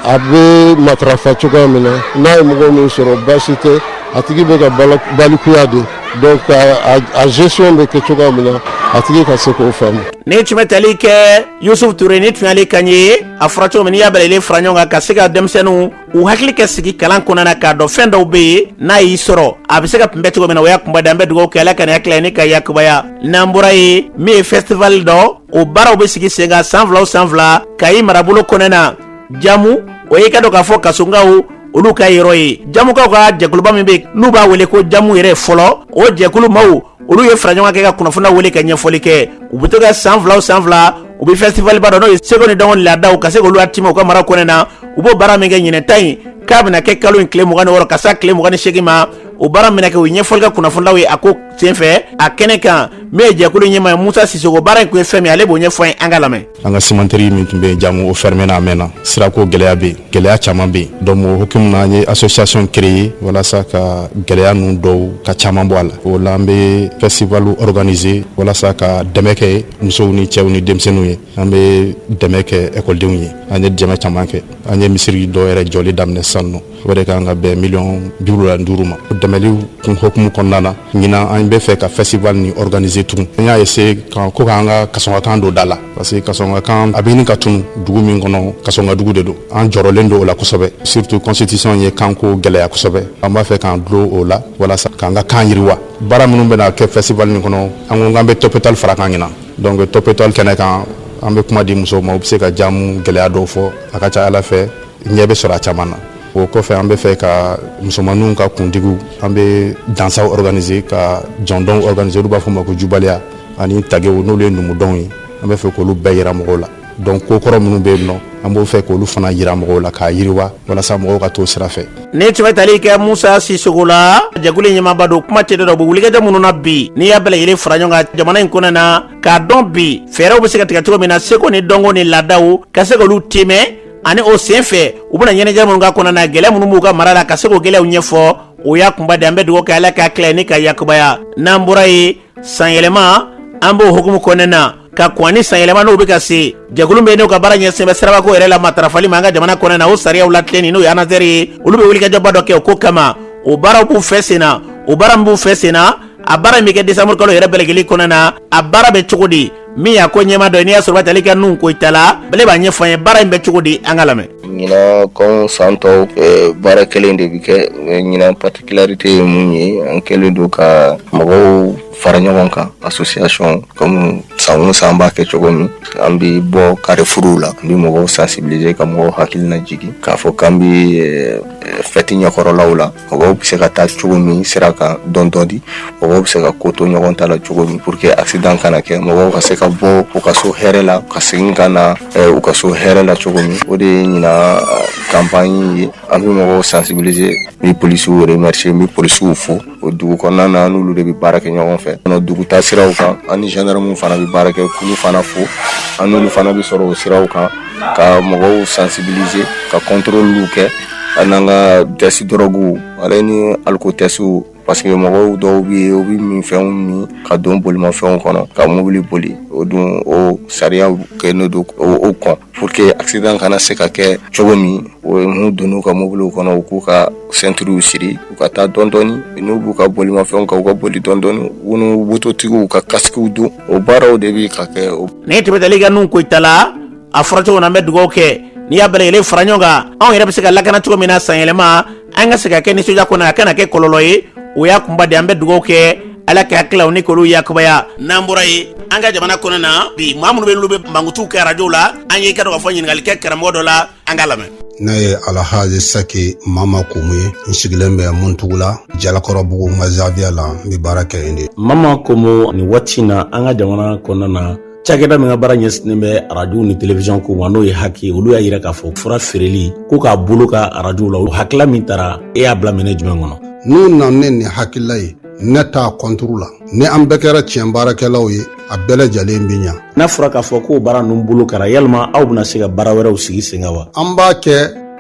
a bɛ matarafa cogoya min na n'a ye mɔgɔ min sɔrɔ baasi tɛ a tigi bɛ ka balikuya de donc a gestion bɛ kɛ cogoya min na a tigi ka se k'o faamu. ni tun bɛ tali kɛ yusufu ture ni tun y'ale kan ye a fɔra cogo min n'i y'a bɛɛ lajɛlen fara ɲɔgɔn kan ka se ka denmisɛnninw u hakili kɛ sigi kalan kɔnɔna na k'a dɔn fɛn dɔw bɛ yen n'a y'i sɔrɔ a bɛ se ka kunbɛn cogo min na o y'a kunba de an bɛ dugawu kɛ ala ka nin hakilina ni ka yakubaya n'an bɔra ye min ye festival dɔ o baaraw bɛ sigi sen kan san fila o san fila kayi marabolo kɔnɔna na jamu o ye i k'a dɔn k'a fɔ kasɔnkaw olu ka yɔrɔ ye jamukaw ka jɛkuluba min bɛ n'u b'a wele ko jamu yɛrɛ fɔlɔ o jɛkulu maaw olu ye fara ɲɔgɔn kɛ ka kunnafonilaw wele ka ɲɛfɔli kɛ u bɛ to ka san fila o san fila u bɛ festival ba dɔ n'o ye seko ni dɔnko laadaw ka se k'olu latimɛ u ka mara kɔnɔna na u b'o baara min kɛ ɲinan ta in k'a bɛna kɛ kalo in tile mugan ni wɔɔrɔ ka s'a tile mugan ni seegin ma o baara minɛ kɛ o ɲɛfɔli kɛ kunnafonilaw ye a ko senfɛ a kɛnɛ kan min ye jɛkulu ɲɛmaa ye musa sisoko baara in kun ye fɛn min ale b'o ɲɛfɔ an ye an k'a lamɛn an ka cimenterie min tun bɛ jamu o fermé na a mɛnna sirako gɛlɛya bɛ yen gɛlɛya caman bɛ yen donc o hukumu na an ye association créer walasa ka gɛlɛya ninnu dɔw ka caman bɔ a la o la an bɛ festival organiser walasa ka dɛmɛ kɛ musow ni cɛw ni denmisɛnninw ye an bɛ dɛmɛ kɛ ekɔlidenw ye an ye dɛmɛ caman kɛ an ye misiri dɔ yɛrɛ jɔli daminɛ sisan nɔ o de kan ka bɛn miliyɔn bi wolonwula ni duuru ma o dɛmɛliw kun hokumu kɔnɔna na ɲinan an bɛ fɛ ka festival ni organiser tugun an y'a essayer ko k'an ka kasɔnkakan don da la parce que kasɔnkakan a bɛ ɲini ka tunu dugu min kɔnɔ kasɔnkadugu de don an jɔrɔlen don o la kosɛbɛ surtout constitution ye kanko gɛlɛya kosɛbɛ an b'a fɛ k'an dulon o la walasa k'an ka kan yiriwa baara minnu bɛna kɛ festival nin kɔnɔ an ko k'an bɛ top étoile far'a kan ɲinan donc top étoile kɛnɛ kan an bɛ kuma di musow ma u bɛ se ka jamu gɛlɛya dɔw fɔ a ka ca a la fɛ ɲɛ bɛ sɔrɔ a caman na o kɔfɛ an bɛ fɛ ka musomanninw ka kuntigiw an bɛ dansaw organiser ka jɔndɔnw organiser olu b'a fɔ ma ko jubaliya ani tagew n'olu ye numudɔnw ye an bɛ fɛ k'olu bɛɛ yira mɔgɔw la donc ko kɔrɔ minnu bɛ yen nɔ an b'o fɛ k'olu fana yira mɔgɔw la k'a yiriwa walasa mɔgɔw ka t'o sira fɛ nin tun bɛ tali kɛ musa sisɔkɔ la jɛkulu ɲɛmaaba don kuma tɛ dɔ bɛ wulikajɔ minnu na bi n'i y'a bɛɛ lajɛlen fara ɲɔgɔn kan jamana in kɔnɔ na k'a dɔn bi fɛɛrɛw bɛ se ka tigɛ cogo min na seko ni dɔnko ni laadaw ka se k'olu tɛmɛ ani o sen fɛ u bɛna ɲɛnajɛ minnu k'a kɔnɔ na gɛlɛya minnu b'u ka mara la ka se k'o gɛlɛyaw ɲɛfɔ o y'a kunba de an bɛ dugawu kɛ ala k'a tila ni ka yakubaya n'an bɔra ye sanyɛlɛma an b'o hukumu kɔnɔna na ka kɔn ni sanyɛlɛma n'o bɛ ka se jɛkulu bɛ n'o ka baara ɲɛsinnen bɛ sirabako yɛrɛ la matarafali ma an ka jamana kɔnɔna na o sariyaw latilenni n'o ye anazɛri ye olu bɛ wulikajɔba dɔ kɛ o ko kama o baaraw b'u fɛ sen na o baara min b'u fɛ sen na a baara min bɛ kɛ desanburukalo yɛrɛ bɛɛ lajɛlen kɔnɔna na a baara bɛ cogo di min y'a ko ɲɛmaa dɔ ye n'i y'a sɔrɔ a bɛ tali kɛ nuhun koyita la ale b'a ɲɛfɔ an ye baara in bɛ cogo di an ka lamɛn ɲinan comme san tɔw eh, baara kelen de bɛ kɛ eh, ɲinan particularité ye mun ye an kɛlen don ka mɔgɔw fara ɲɔgɔn kan association comme san o san b'a kɛ cogo min an bɛ bɔ karefuruw la an bɛ mɔgɔw sensibiliser ka mɔgɔw hakilina jigin k'a fɔ k'an bɛ eh, fɛti ɲɛkɔrɔlaw la mɔgɔw bɛ se ka taa cogo min sira kan dɔɔnin dɔɔnin mɔgɔw bɛ se ka ko to ɲɔgɔn ta la cogo min pour que accident kana kɛ mɔgɔw ka se ka bɔ u ka so hɛrɛ la ka segin ka na eh, u ka so hɛrɛ la cogo min o de ye ɲinan campagne ye an bɛ mɔgɔw sensibiliser n bɛ polisiw remercier n bɛ polisiw fo o dugu kɔnɔna na an n'olu de bɛ baara kɛ ɲɔgɔn fɛ nɔ dugutaasiraw kan an ni gendarmew fana bɛ baara kɛ k'olu fana fo an n'olu fana bɛ sɔrɔ o siraw kan ka mɔgɔw sansibilize ka kɔntɔrɔliw kɛ ani n'an ka tɛsiti dɔrɔgu ale ni alikotɛsitiw parce que mɔgɔw dɔw bɛ yen u bɛ minfɛnw min ka don bolimafɛnw kɔnɔ ka mobili boli o dun o sariya kɛlen don o kɔn pour que asidan kana se ka kɛ cogo min n'u donna u ka mobiliw kɔnɔ u k'u ka ceinture siri u ka taa dɔɔnin n'u b'u ka bolifɛn kan u ka boli dɔɔnin mototigiw ka kasiki don o baaraw de bɛ ka kɛ nin tun bɛ tali kɛ nuhun koyita la a fɔra cogo na an bɛ dugawu kɛ n'i y'a bɛɛ lajɛlen fara ɲɔgɔn kan anw yɛrɛ bɛ se ka lakana cogo min na sanyɛlɛma an ka se ka kɛ nisɔndiya kɔnɔ a kana kɛ kɔlɔlɔ ye o y'a kunba de an bɛ dugawu kɛ ala ka kilaw ni kolo yakubaya n'an bɔra ye an ka jamana kɔnɔ na bi maa minnu bɛ olu bɛ mankutu kɛ arajow la an y'i ka dɔgɔ fɔ ɲininkali kɛ karamɔgɔ dɔ la an ka lamɛn ne ye alahaji saki mama komu ye n sigilen bɛ muntugula jalakɔrɔbugu n ka zawiya la n bɛ baara kɛ yen de mama komu nin waati na an ka jamana kɔnɔna na cakɛda min ka baara ɲɛsinnen bɛ arajow ni telewizɔn ko ma n'o ye haki olu y'a yira k'a fɔ fura feereli ko k'a bɔ olu ka arajow la o hakila min tara e y'a bila miiri jumɛn kɔnɔ n'u na ne nin hakilila ye ne t'a kɔnturu la ni an bɛɛ kɛra tiɲɛ baarakɛlaw ye a bɛɛ lajɛlen bɛ ɲa n'a fɔra k'a fɔ k'o baara ninnu bolo kɛra yalima aw bɛna se ka baara wɛrɛw sigi sen kan wa an b'a kɛ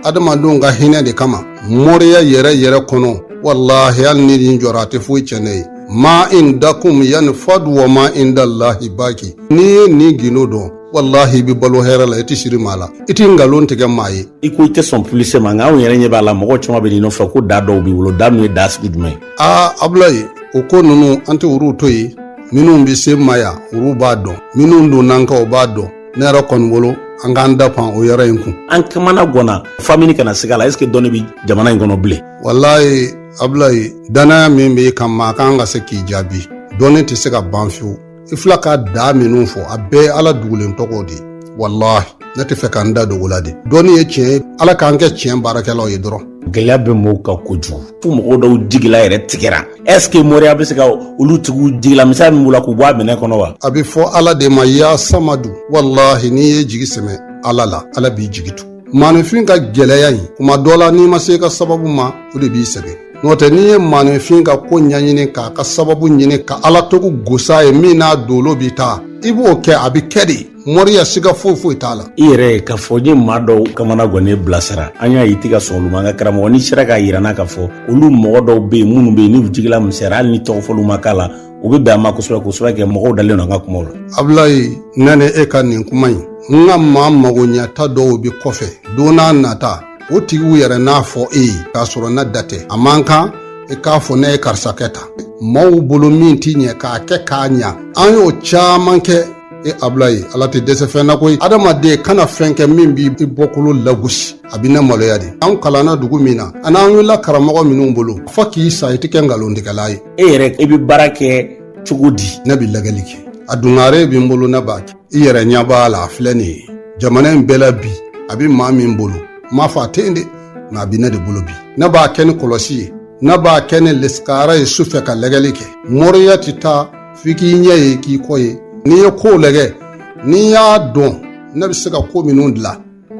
adamadenw ka hinɛ de kama moriya yɛrɛ yɛrɛ kɔnɔ walahi hali ni nin jɔra a tɛ foyi tiɲɛ ne ye ma indakum yanfadu wa ma indallahi baki n'i ye nin gundo dɔn walahi i bɛ balo hɛrɛ la i tɛ siri maa la i tɛ nkalon tigɛ maa ye i ko i tɛ sɔn pulise ma nka anw yɛrɛ ɲɛ b'a la mɔgɔ caman bɛ n'i nɔfɛ ko da dɔw b'i bolo da min ye da sugu jumɛn ye aa abulayi o ko ninnu an tɛ olu to yen minnu bɛ se ma yan olu b'a dɔn minnu donn'an kan o b'a dɔn ne yɛrɛ kɔni bolo an k'an da pan o yɔrɔ in kun an kamana gɔnna f'an bɛ ɲini ka na siga a la ɛseke dɔnni bɛ jamana in kɔnɔ bilen walayi abulayi dannaya min b'i kan maa kan ka se k'i jaabi dɔnni tɛ se ka ban fiyewu i fila ka da minnu fɔ a bɛɛ ala dugulen tɔgɔw de walahi ne t'a fɛ ka n da don ko la de dɔnni ye tiɲɛ ye ala k'an kɛ tiɲɛ baarakɛlaw ye dɔrɔn gɛlɛya bɛ mɔgɔw kan kojugu fo mɔgɔw dɔw jigila yɛrɛ tigɛra est ce que moriya bɛ se ka olu tigiw jigila misɛya min b'u la k'u bɔ a minɛ kɔnɔ wa a bɛ fɔ ala de ma ya samadu walahi n'i ye jigi sɛmɛ ala la ala b'i jigi tu maanifin ka gɛlɛya in kuma dɔ la n'i ma se i ka sababu ma o de b'i sɛgɛn n'o tɛ n'i ye maanifin ka ko ɲɛɲini k'a ka sababu ɲini ka ala tɔgɔ gos'a ye min n'a dolo bɛ taa i b'o kɛ a bɛ kɛ de mɔriya siga foyi foyi t'a la i yɛrɛ ye k'a fɔ n ye maa dɔw kamana gɔnnen bilasira an y'a ye i tɛ ka sɔn olu ma nka karamɔgɔ n'i sera k'a yira an na k'a fɔ olu mɔgɔ dɔw be yen minnu be yen n'u jigila misɛra hali ni tɔgɔ fɔli ma k'a la u be bɛn a ma kosɛbɛ k'o sababu kɛ mɔgɔw dalen don an ka kumaw la abulayi ne ni e ka nin kuma in n ka maa magoɲɛta dɔw be kɔfɛ don n'a nata o tigiw yɛrɛ n'a fɔ e ye k'a sɔrɔ ne da tɛ a man kan i k'a fɔ ne ye karisa kɛ tan maaw bolo min t'i ɲɛ k'a kɛ k'a ɲa an y'o caman kɛ e abulayi ala tɛ dɛsɛ fɛn na koyi adamaden kana fɛn kɛ min b'i bɔkolo lagosi a bɛ ne maloya de an kalanna dugu min na ani an wulila karamɔgɔ minnu bolo fo k'i sa i tɛ kɛ nkalontigɛla ye e yɛrɛ i bɛ baara kɛ cogo di ne bɛ lagɛli kɛ a dungare bɛ n bolo ne b'a kɛ i yɛrɛ ɲɛ b'a la a filɛ nin ye jamana in bɛɛ la bi a bɛ maa min bolo n m'a fɔ a tɛ yen dɛ nka a bɛ ne de bolo bi ne b'a kɛ ni kɔlɔsi ye ne b'a kɛ ni lesikara ye su fɛ ka lɛgɛli kɛ mɔriya tɛ taa f'i k'i ɲɛ ye k'i kɔ ye n'i ye kow lɛgɛ n'i y'a dɔn ne bɛ se ka ko minnu dilan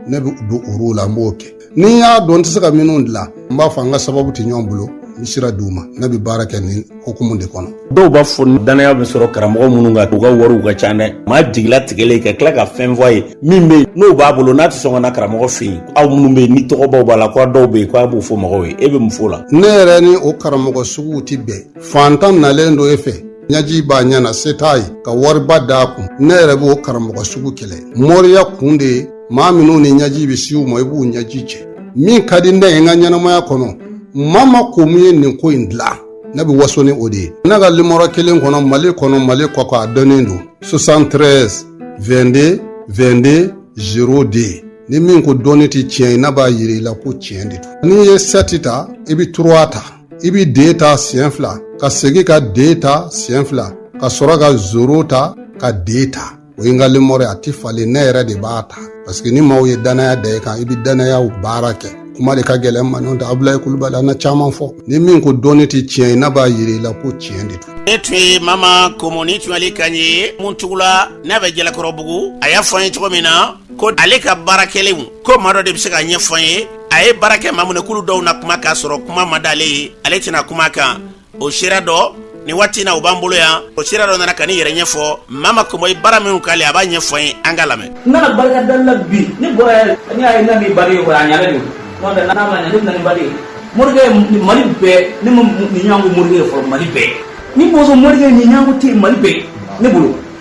ne bɛ don olu la n b'o kɛ ni n y'a dɔn n tɛ se ka minnu dilan n b'a fɔ an ka sababu tɛ ɲɔgɔn bolo n bɛ sira di u ma ne bɛ baara kɛ nin hukumu de kɔnɔ dɔw b'a fɔ dannaya bɛ sɔrɔ karamɔgɔ minnu kan u ka wariw ka ca dɛ maa jigila tigɛlen ka tila ka fɛn fɔ a ye min bɛ yen n'o b'a bolo n'a tɛ sɔn ka na karamɔgɔ fɛ yen aw minnu bɛ yen ni tɔgɔbaw b'a la ko dɔw bɛ yen ko a b'o fɔ mɔgɔw ye e bɛ mun fɔ o la ne yɛrɛ ni o karamɔgɔ suguw tɛ bɛn fantan nalen don e fɛ ɲaji b'a ɲɛ na se t'a ye ka wariba d'a kun ne yɛrɛ b'o karamɔgɔ sugu kɛlɛ moriya kun de ye maa minnu ni ɲaji bɛ siw ma i b'u ɲaji cɛ min ka di ne ye n ka ɲɛnamaya kɔnɔ mama komo ye nin ko in dilan ne bɛ waso ni o de ye ne ka limɔrɔ kelen kɔnɔ mali kɔnɔ mali kɔkan a dɔnnen don 73 22 22 0 de ni min ko dɔnni tɛ tiɲɛ ye ne b'a yira i la ko tiɲɛ de don n'i ye sɛti ta i bɛ turuwa ta i bɛ de ta siɲɛ fila ka segin ka de ta siɲɛ fila ka sɔrɔ ka zoro ta ka de ta o ye n ka limɔrɔ ye a tɛ falen ne yɛrɛ de b'a ta paseke ni maaw ye danaya da i kan i bɛ danayaw baara kɛ kuma de ka gɛlɛn n ma n'o tɛ abulayi kulubali an na caman fɔ ni min ko dɔnni tɛ tiɲɛ ye ne b'a yira i la ko tiɲɛ de don nin tun ye mama komo nin tun y'ale kan ye muntugula n'a bɛ jalakɔrɔbugu a y'a fɔ an ye cogo min na ko ale ka baarakɛlenw ko maa dɔ de bɛ se k'a ɲɛfɔ an ye a ye baara kɛ maa minnu ye k'olu dɔw na kuma k'a sɔrɔ kuma ma d'ale ye ale tɛna kuma kan o seere dɔ nin waati na o b'an bolo yan o seere dɔ nana ka nin yɛrɛ ɲɛfɔ mama komo ye baara minnu k'ale a b'a ɲɛfɔ an ye an ka lamɛn n nana barikada la bi ne bɔra yɛrɛ n'i y'a ye n'a b'i bari ye kɔrɔ a ɲana de n'o tɛ n'a ma ɲa ne bɛna ni bari ye morikɛ mali bɛɛ ne ma nin ɲɔgɔn ko morikɛ ye fɔlɔ mali bɛɛ ni bozo morikɛ nin ɲɔgɔn ko tɛ mali bɛɛ ne bolo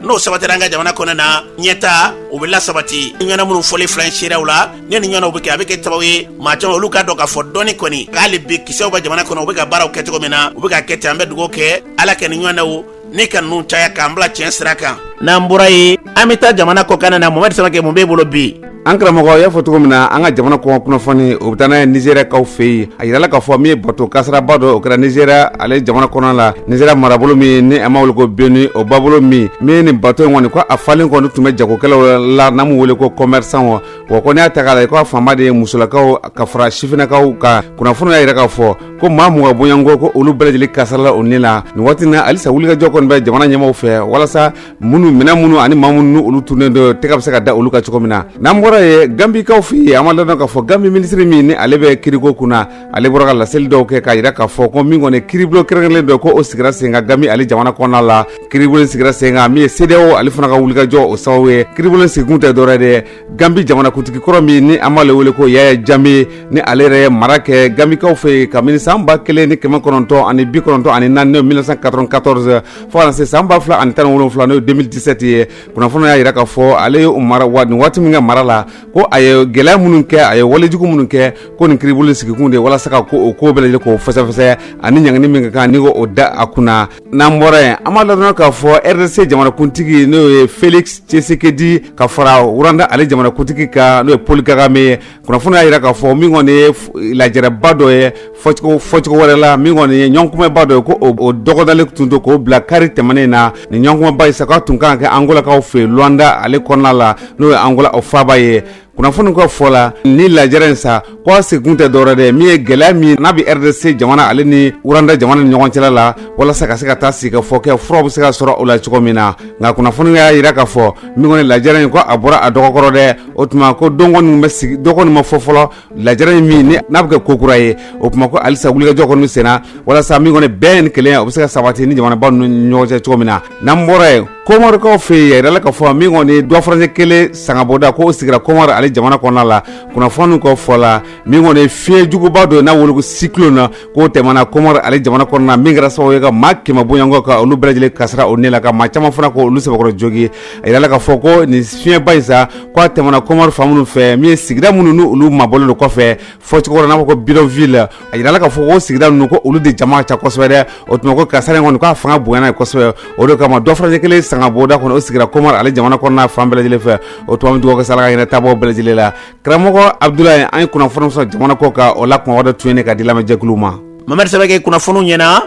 n'o sabatira an ka jamana kɔnɔ na ɲɛtaa o bɛ lasabati ɲɔgɔnna minnu fɔlen filɛ nin seereyaw la ni nin ɲɔgɔnnaw bɛ kɛ a bɛ kɛ sababu ye maa caman olu k'a dɔn k'a fɔ dɔnni kɔni k'ali bi kisɛw bɛ jamana kɔnɔ u bɛ ka baaraw kɛ cogo min na u bɛ ka kɛ ten an bɛ dugawu kɛ ala ka nin ɲɔgɔnnaw ne ka ninnu caya k'an bila tiɲɛ sira kan n'an bɔra yen an bɛ taa jamana kɔkan na mohamɛdi samakɛ mun b'e bolo bi an karamɔgɔ y'a fɔ cogo min na an ka jamana kɔkan kunnafoni o bɛ taa n'an ye nizeriyakaw fɛ yen a yirala k'a fɔ min ye bato kasaraba dɔ o kɛra nizeriya ale jamana kɔnɔ la nizeriya marabolo min ni an b'a wele ko beni o babolo min min ye nin bato in kɔni ko a falen kɔni tun bɛ jagokɛlaw la n'an b'u wele ko kɔmɛrisanw wa ko n'i y'a ta k'a lajɛ ko a fanba de ye musolakaw ka fara sifinnakaw kan kunnafoni y'a yira k'a fɔ ko maa mugan bɔɲɔgɔnko ko olu bɛɛ lajɛlen kasarala u ni la nin waati na halisa wulikajɔ kɔni bɛ jamana ɲɛmaaw fɛ walasa minnu minɛn minnu ani maa minnu ni olu tununen don tɛgɛ bɛ se ka da olu kan cogo min na n'an bɔra yen gambikaw fɛ yen an b'a ladɔn k'a fɔ gambi minisiri min ni ale bɛ kiriko kun na ale bɔra ka laseli dɔw kɛ k'a yira k'a fɔ ko min kɔni kiribulon kɛrɛnkɛrɛnlen dɔ ko o sigira sen kan gambi ale jamana kɔnɔna la kiribulon sigira sen kan min ye sedeyawo ale fana ka wulikajɔ o sababu ye kiribulon sigikun tɛ dɔwɛrɛ de ye gambi jamanakuntigi kɔrɔ min ni an b'ale wele ko yaya jame ni ale yɛrɛ ye mara kɛ gambikaw fɛ yen kabini san ba kelen ni kɛmɛ kɔnɔntɔn ani bi kɔnɔntɔn ani naani n'o 1994 fo ka na se san ba fila ani tan ni wolonwula n'o ye 2017 ye kunnafoni y'a yira k'a fɔ ale ye u mara wa nin waati min ka mara la ko a ye gɛlɛya minnu kɛ a ye walejugu minnu kɛ ko nin kiribulon sigikun de walasa ka ko o ko bɛɛ lajɛlen k'o fɛsɛfɛsɛ ani ɲangini min ka kan ni k'o da a kunna n'an bɔra yen an b'a ladɔn k'a fɔ rdc jamanakuntigi n'o ye felix tshisekedi ka fara wuranda ale jamanakuntigi kan n'o ye paul kagame ye kunnafoni y'a jira k'a fɔ min kɔni ye lajɛrɛba dɔ ye fɔcogo wɛrɛ la min kɔni ye ɲɔgɔnkumaba dɔ ye ko o dɔgɔdalen tun don k'o bila kari tɛmɛnen na nin ɲɔgɔnkumaba in sa k'a tun kan ka kɛ angolakaw fɛ luwanda ale kɔnɔna la n'o ye angola o faaba ye kunnafoni ka fɔ la nin lajɛrɛ in sa k'a sigikun tɛ dɔwɛrɛ dɛ min ye gɛlɛya min n'a bɛ rdc jamana ale ni wuranda jamana ni ɲɔgɔn cɛla la walasa ka se ka taa sigi ka fɔ kɛ fura bɛ se ka sɔrɔ o la cogo min na nka kunnafoni y'a jira k'a fɔ min kɔni lajɛrɛ in ko a bɔra a dɔgɔkɔrɔ dɛ o tuma ko don kɔni bɛ sigi don kɔni ma fɔ fɔlɔ lajɛrɛ in min n'a bɛ kɛ ko kura ye o tuma ko halisa wulikajɔ kɔni senna walasa min kɔni bɛn ni kelenya o bɛ se ka sabati ni jamanaba ninnu ɲɔgɔn cɛ cogo min na n'an bɔra yen komɔrikaw fɛ a jirala k'a fɔ min kɔni dɔgɔfurancɛ kelen sangabonda k'o sigira komɔri ale jamana kɔnɔna la kunnafoniw ka fɔ la min kɔni fiɲɛjuguba dɔ n'a wele cyclone k'o tɛmɛna komɔri ale jamana kɔnɔna min kɛra sababu ye ka maa kɛmɛ bɔɲɔgɔnko ka olu bɛɛ lajɛlen kasara o ne la ka maa caman fana ko olu sɛbɛkɔrɔ jogin a jirala k'a fɔ ko nin fiɲɛba in sa k'a tɛmɛna komɔri fan minnu fɛ min ye sigida minnu n' olu mabɔlen kɔfɛ fɔcogo n'a ko bidonville a jirala k'a fɔ o sigida ninnu ko olu de jama ca kosɛbɛ dɛ o tuma ko kasara in kɔni k'a fanga bonyana yen kosɛbɛ o de kama dɔgɔfurancɛ kelen sangabonda kɔni o sigira komɔri ale jamana kɔnɔna fan bɛɛ lajɛlen fɛ o tuma n bɛ dugawu kɛ sa ala ka hinɛ taabaaw bɛɛ lajɛlen la karamɔgɔ abudulayi an ye kunnafoni sɔrɔ jamana kɔkan o la kunbaba dɔ tun ye nin ye ka di lamɛnjɛkulu ma mamadi sɛbɛkɛ kunnafoniw ɲɛna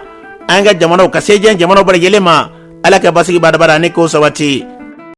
an ka jamanaw ka se diɲɛ jamanaw bɛɛ lajɛlen ma ala ka basigi badabada ani k'o sabati